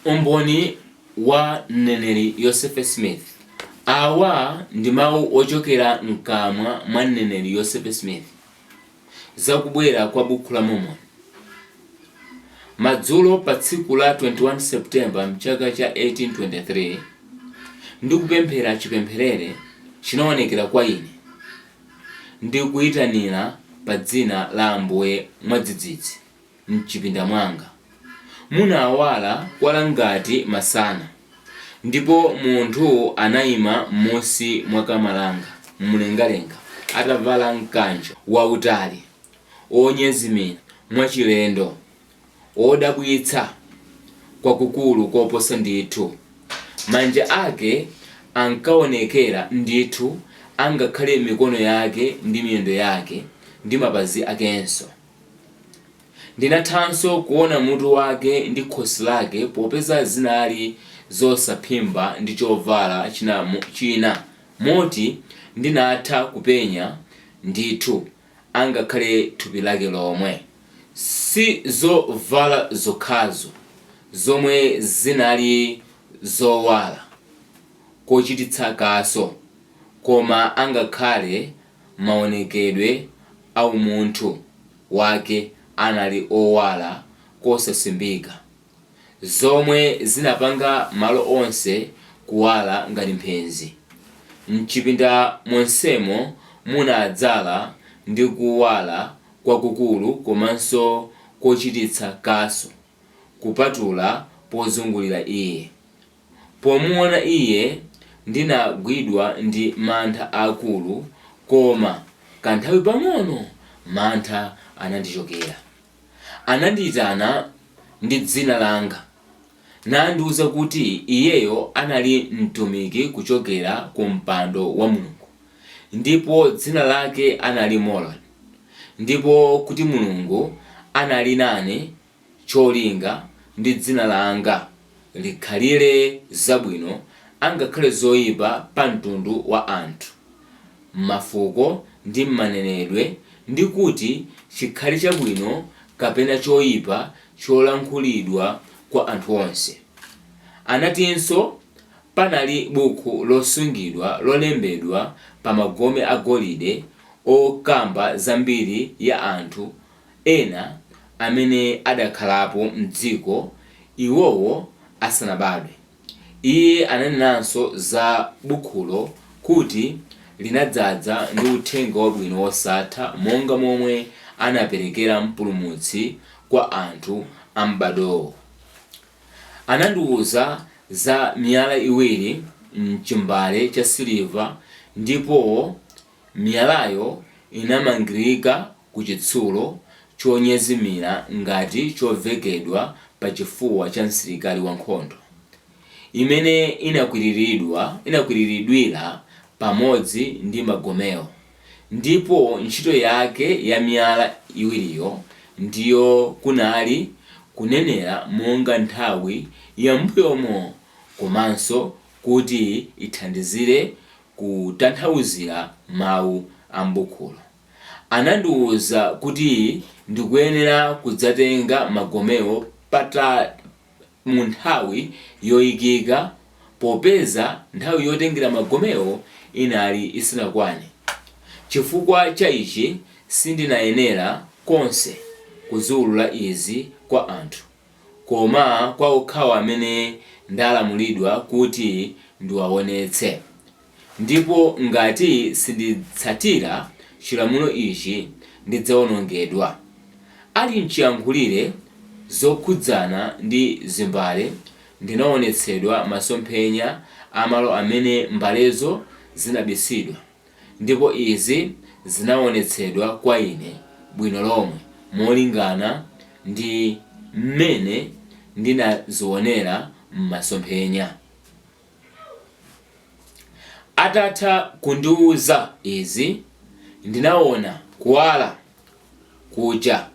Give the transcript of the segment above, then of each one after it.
Umboni wa Mneneri Yosefe Smith Awa ndi mawu ochokera mkamwa mwa Mneneri Yosefe Smith za kubwera kwa Bukhu la Mormoni, madzulo pa tsiku la 21 September mchaka cha 1823, Ndikupemphera chipempherere chinaonekera kwa ine ndi kuyitanira pa dzina la Ambuye mwadzidzidzi. m'chipinda mwanga munawala kwala ngati masana, ndipo munthu anaima m'munsi mwa kama langa m'mlengalenga atavala mkanjo wautali wonyezimira mwachilendo, wodabwitsa kwakukulu koposa ndithu. Manja ake ankaonekera ndithu angakhale mikono yake ndi miyendo yake ndi mapazi akenso. Ndinathanso kuona mutu wake ndi khosi lake popeza zinali zosaphimba ndi chovala china moti ndinatha kupenya ndithu angakhale thupi lake lomwe. Si zovala zokhazo zomwe zinali zowala kochititsa kaso koma angakhale mawonekedwe a umunthu Wake anali owala kosasimbika, zomwe zinapanga malo onse kuwala ngati mphenzi. Mchipinda monsemo munadzala ndi kuwala kwakukulu komanso kochititsa kaso. kupatula pozungulira iye. Pomuwona iye, ndinagwidwa ndi mantha aakulu, koma kanthawi pang'ono mantha anandichokera. Anandiitana ndi dzina langa nandiuza kuti iyeyo anali mtumiki kuchokera ku mpando wa Mulungu. Ndipo dzina lake anali Moroni. Ndipo kuti Mulungu anali nane cholinga ndi dzina langa likhalire zabwino angakhale zoipa pa mtundu wa anthu, m'mafuko ndi m'manenedwe ndi kuti chikhale chabwino kapena choipa cholankhulidwa kwa anthu onse. Anatinso Panali bukhu losungidwa lolembedwa pa magome a golide okamba za mbiri ya anthu ena amene adakhalapo m'dziko iwowo asanabadwe. Iye ananenanso za bukhulo kuti linadzadza ndi uthenga wabwino wosatha monga momwe anaperekera Mpulumutsi kwa anthu a m'badwowo. Anandiuza za miyala iwiri m'chimbale cha siliva ndipo miyalayo inamangirika ku chitsulo chonyezimira ngati chovekedwa pachifuwa cha msilikali wankhondo, imene inakwiriridwira pamodzi ndi magomewo. Ndipo ntchito yake ya miyala iwiriyo ndiyo kunali kunenera monga nthawi ya m'mbuyomo komanso kuti ithandizire kutanthauzira mawu a m'bukhulo. Anandiuza kuti ndikuyenera kudzatenga magomewo pata. mu nthawi yoikika popeza nthawi yotengera magomewo inali isinakwane. Chifukwa cha ichi sindinayenera konse kuziulula izi kwa anthu, koma kwa okhawo amene ndalamulidwa kuti ndiwaonetse. Ndipo ngati sinditsatira chilamulo ichi, ndidzawonongedwa. Ali m'chiyankhulire zokhudzana ndi zimbale, ndinaonetsedwa masomphenya a malo amene mbalezo zinabisidwa, ndipo izi zinaonetsedwa kwa ine bwino lomwe molingana ndi mmene ndinazionera m'masomphenya. Atatha kundiuza izi, ndinaona kuwala kuja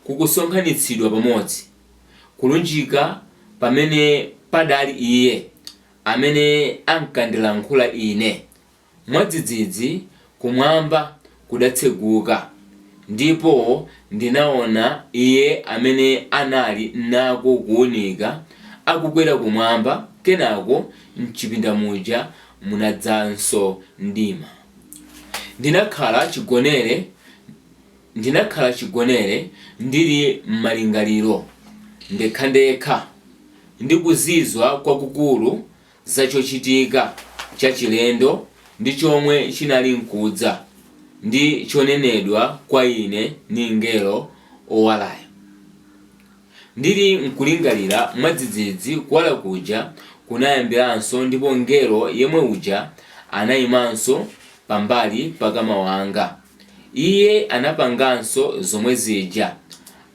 kukusonkhanitsidwa pamodzi, kulunjika pamene padali iye amene ankandilankhula ine, Mwadzidzidzi kumwamba kudatseguka, ndipo ndinaona Iye amene anali nako kuunika akukwera kumwamba, kenako m'chipinda muja munadzanso mdima. Ndinakhala chigonere ndili m'malingaliro ndekhandekha ndi kuzizwa kwakukulu. za chochitika chachilendo ndi chomwe chinali nkudza, ndi chonenedwa kwa ine ndi mngelo owalayo. Ndili nkulingalira, mwadzidzidzi kuwala kuja kunayambiranso ndipo mngelo yemwe uja anayimanso pambali pa kama wanga. Iye anapanganso zomwe zija.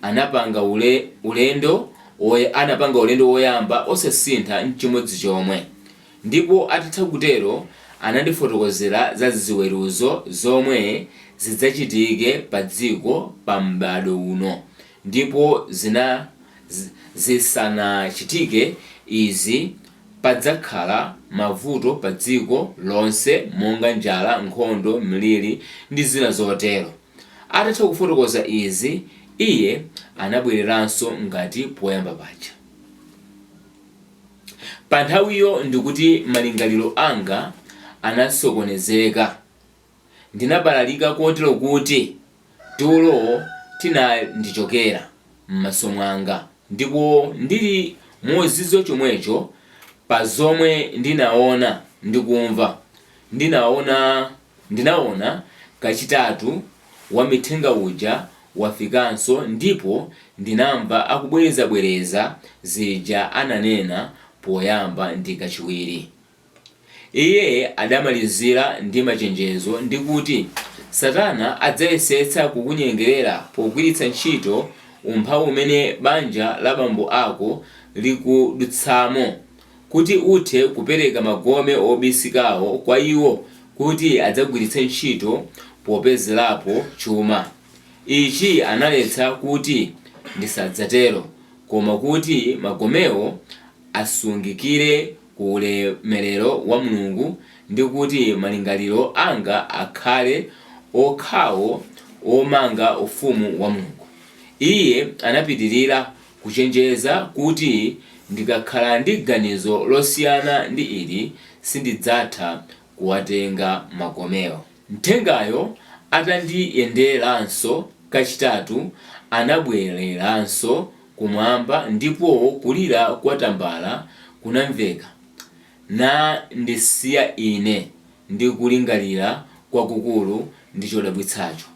Anapanga ule, ulendo woy, anapanga ulendo woyamba osasintha nchimodzi chomwe. Ndipo atatha kutero, anandifotokozera za ziweruzo zomwe zidzachitike pa dziko pa m'badwo uno. Ndipo zina, zi, zisanachitike izi, Padzakhala mavuto padziko lonse monga njala, nkhondo, mliri, ndi zina zotero. Atatha kufotokoza izi, iye anabwereranso ngati poyamba paja. Panthawiyo ndikuti malingaliro anga anasokonezeka. ndinabalalika kotero kuti tulo tinandichokera m'maso mwanga. Ndipo ndili mozizwa chomwecho pa zomwe ndinaona ndi kumva, ndinaona, ndinaona kachitatu wamthenga uja wafikanso ndipo ndinamva akubwerezabwereza zija ananena poyamba ndi kachiwiri. Iye adamalizira ndi machenjezo ndi kuti Satana adzayesetsa kukunyengerera pogwiritsa ntchito umphawi umene banja la bambo ako likudutsamo kuti uthe kupereka magome obisikawo kwa iwo kuti adzagwiritse ntchito popezerapo chuma. Ichi analetsa kuti ndisadzatero koma kuti magomewo asungikire. ku ulemelero wa Mulungu, ndi kuti malingaliro anga akhale okhawo omanga ufumu wa Mulungu. Iye anapitirira kuchenjeza kuti, Ndikakhala ndi ganizo losiyana ndi ili, sindidzatha kuwatenga magomewo. Mthengayo atandiyenderanso kachitatu, anabwereranso kumwamba ndipo kulira kwa tambala kunamveka, nandisiya ine ndi kulingalira kwakukulu ndi chodabwitsacho.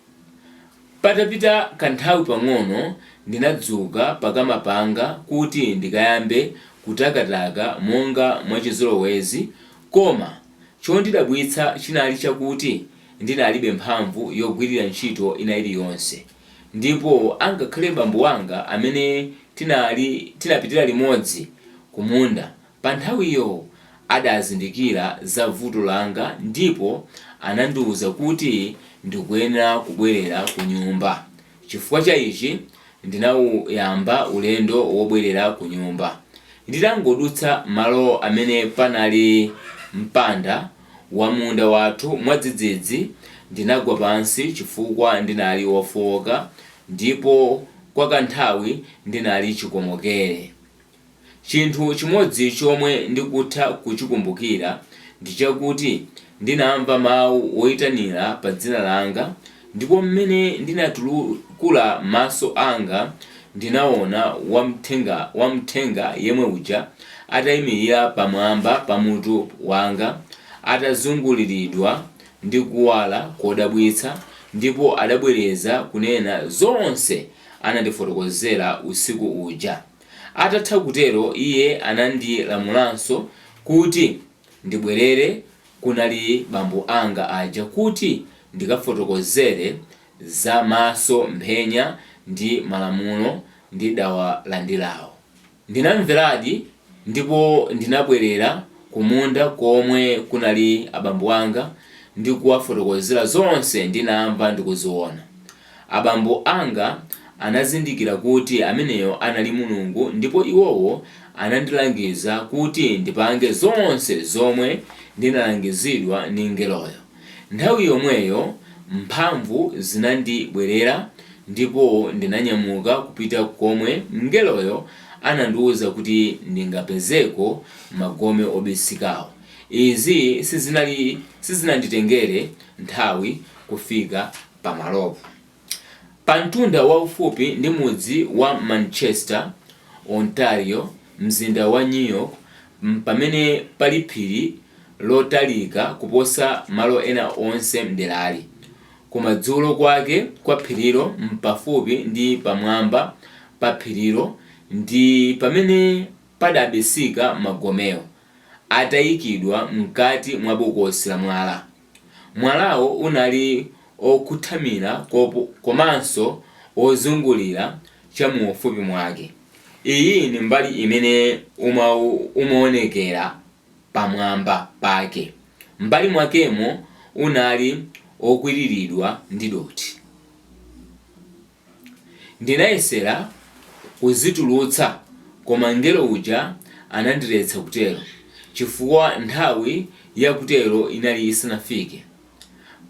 Patapita kanthawi pang'ono ndinadzuka pakama panga kuti ndikayambe kutakataka monga mwachizolowezi, koma chondidabwitsa chinali chakuti ndinalibe mphamvu yogwirira ntchito ina iliyonse. ndipo angakhale bambo wanga amene tinali tinapitira limodzi kumunda panthawiyo adazindikira za vuto langa ndipo anandiuza kuti ndikuyenera kubwerera kunyumba. Chifukwa cha ichi, ndinauyamba ulendo wobwerera kunyumba. Nditangodutsa malo amene panali mpanda wa munda wathu, mwadzidzidzi ndinagwa pansi chifukwa ndinali wofooka ndipo kwa kanthawi ndinali chikomokere. Chinthu chimodzi chomwe ndikutha kuchikumbukira ndi chakuti ndinamva mawu woitanira pa dzina langa Ndipo m'mene ndinatukula maso anga, ndinaona wamthenga yemwe uja ataimirira pamwamba pa mutu wanga, atazunguliridwa ndi kuwala kodabwitsa, ndipo adabwereza kunena zonse anandifotokozera usiku uja. Atatha kutero iye anandilamulanso kuti. ndibwerere kunali bambo anga aja kuti ndikafotokozere za masomphenya ndi malamulo ndidawalandirawo. Ndinamveradi ndipo ndinabwerera kumunda komwe kunali abambo anga ndi kuwafotokozera zonse ndinamva ndi kuziona. Abambo anga anazindikira kuti ameneyo anali Mulungu ndipo iwowo anandilangiza kuti ndipange zonse zomwe ndinalangizidwa ndi mngeloyo. Nthawi yomweyo mphamvu zinandibwerera ndipo ndinanyamuka kupita komwe mngeloyo anandiuza kuti ndingapezeko magome obisikawo. Izi sizinanditengere nthawi kufika Pamalopo, pamtunda waufupi ndi mudzi wa Manchester, Ontario, m'mzinda wa New York, m'pamene pali phiri lotalika kuposa malo ena onse m'derali. Kumadzulo kwake kwa phirilo m'pafupi ndi pamwamba pa phirilo ndi pamene padabisika magomewo, ataikidwa m'kati mwa bokosi lamwala. Mwalawo unali okhuthamira komanso wozungulira cha mu ufupi mwake. Iyi ni mbali imene umaonekera pamwamba pake. M'mbali mwakemo unali okwiriridwa ndi dothi. Ndinayesera kuzitulutsa, koma mngelo uja anandiletsa kutero chifukwa nthawi ya kutero inali isanafike.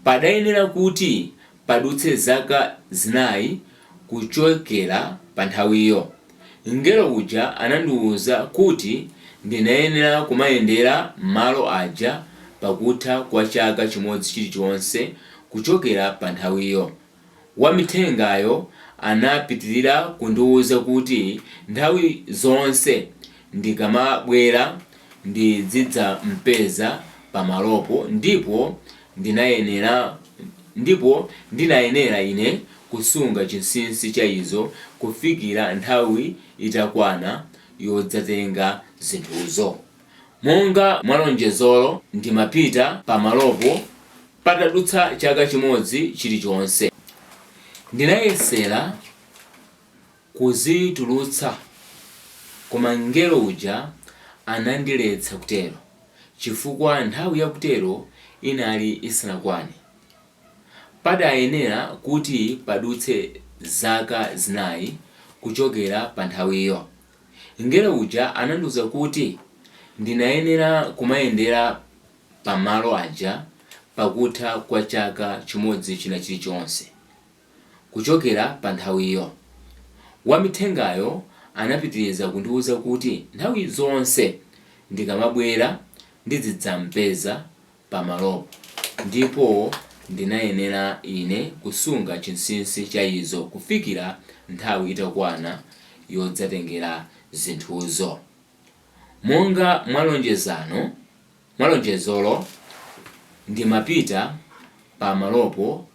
Padayenera kuti padutse zaka zinayi kuchokera panthawiyo. Mngelo uja anandiuza kuti ndinayenera kumayendera malo aja pakutha kwa chaka chimodzi chilichonse kuchokera panthawiyo. Wamithengayo anapitiriza kundiuza kuti nthawi zonse ndikamabwera ndidzidzam'peza pamalopo ndipo ndinayenera ine kusunga chinsinsi cha izo kufikira nthawi itakwana yodzatenga zinthuzo. Monga mwa lonjezolo ndimapita pamalopo patadutsa chaka chimodzi chilichonse. Ndinayesera kuzitulutsa koma mngelo uja anandiletsa kutero chifukwa nthawi yakutero inali isanakwane. Padayenera kuti padutse zaka zinayi kuchokera panthawiyo. Mngelo uja anandiuza kuti ndinayenera kumayendera pa malo aja pakutha kwa chaka chimodzi china chilichonse kuchokera pa nthawiyo. Wamithengayo anapitiriza kundiuza kuti nthawi zonse ndikamabwera ndidzidzam'peza pa malopo, ndipo ndinayenera ine kusunga chinsinsi cha izo kufikira nthawi itakwana yodzatengera zinthuzo. Monga mwa lonjezano, mwa lonjezolo, ndimapita pa malopo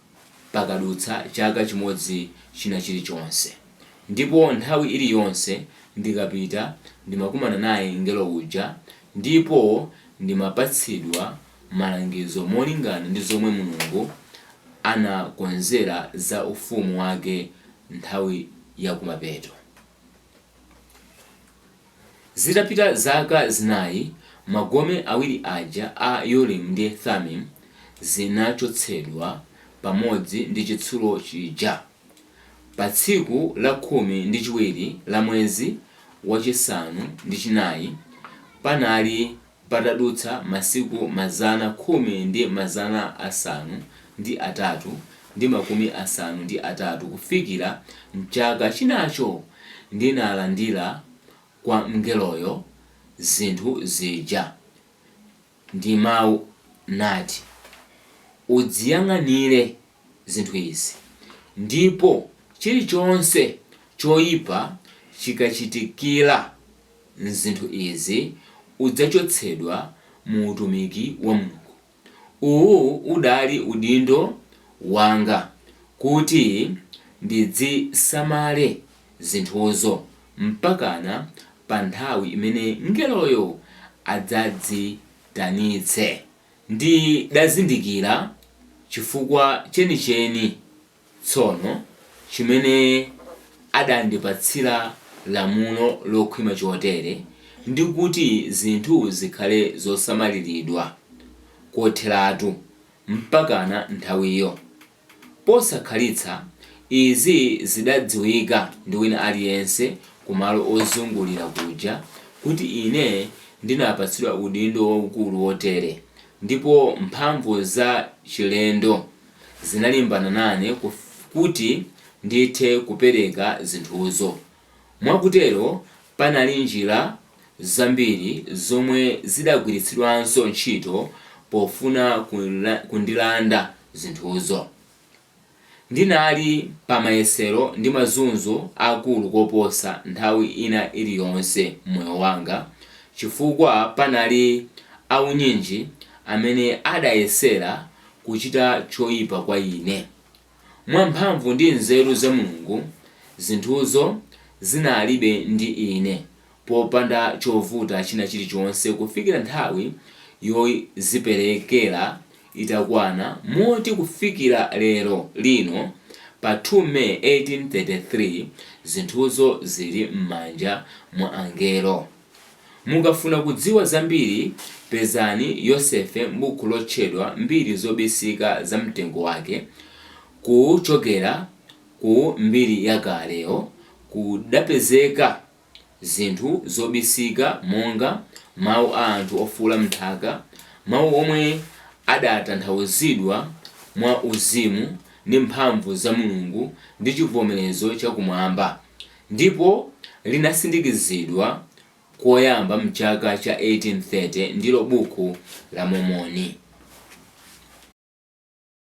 pakadutsa chaka chimodzi china chirichonse. Ndipo nthawi iriyonse ndikapita ndimakumana naye mngelo uja ndipo ndimapatsidwa malangizo molingana ndi zomwe Mulungu anakonzera za ufumu wake nthawi yakumapeto. Zitapita zaka zinayi, magome awiri aja a Urimu ndi Thumimu zinachotsedwa pamodzi ndi chitsulo chija. Pa tsiku la khumi ndi chiwiri la mwezi wachisanu ndi chinayi, panali. Patadutsa masiku mazana khumi ndi mazana asanu ndi atatu ndi makumi asanu ndi atatu kufikira m'chaka chinacho ndinalandira kwa mngeloyo zinthu zija, ndi mau nati, Udziyang'anire. zinthu izi, ndipo chirichonse choyipa chikachitikira zinthu izi, udzachotsedwa mu utumiki wa Mulungu. Uwu udali udindo wanga kuti ndidzisamale zinthuzo mpakana pa nthawi imene mngeloyo adzaziitanitse. Ndidazindikira chifukwa chenicheni tsono chimene adandipatsira lamulo lokhwima chotere ndi kuti zinthu zikhale zosamaliridwa kotheratu mpakana nthawiyo. Posakhalitsa, izi zidadziwika ndi wina aliyense kumalo ozungulira kuja kuti ine ndinapatsidwa udindo waukulu wotere, ndipo mphamvu za chilendo zinalimbana nane kuti ndithe kupereka zinthuzo. Mwakutero, panali njira zambiri zomwe zidagwiritsidwanso ntchito pofuna kundilanda zinthuzo. Ndinali pa mayesero ndi mazunzo akulu koposa nthawi ina iriyonse m'moyo wanga chifukwa panali aunyinji amene adayesera kuchita choipa kwa ine. Mwa mphamvu ndi nzeru za Mulungu, zinthuzo zinalibe ndi ine popanda chovuta china chilichonse kufikira nthawi yoziperekera itakwana moti kufikira lero lino pa 2 May 1833 zinthuzo zili m'manja mwa angelo. Mukafuna kudziwa zambiri, pezani Yosefe m'buku lotchedwa Mbiri Zobisika za Mtengo Wake, Kuchokera ku mbiri yakaleyo kudapezeka zinthu zobisika monga, mau a anthu ofuula m'nthaka, mau omwe adatanthauzidwa mwa uzimu ndi mphamvu za Mulungu ndi chibvomerezo cha kumwamba. ndipo linasindikizidwa koyamba m'chaka cha 1830, ndilo Buku la Mormoni.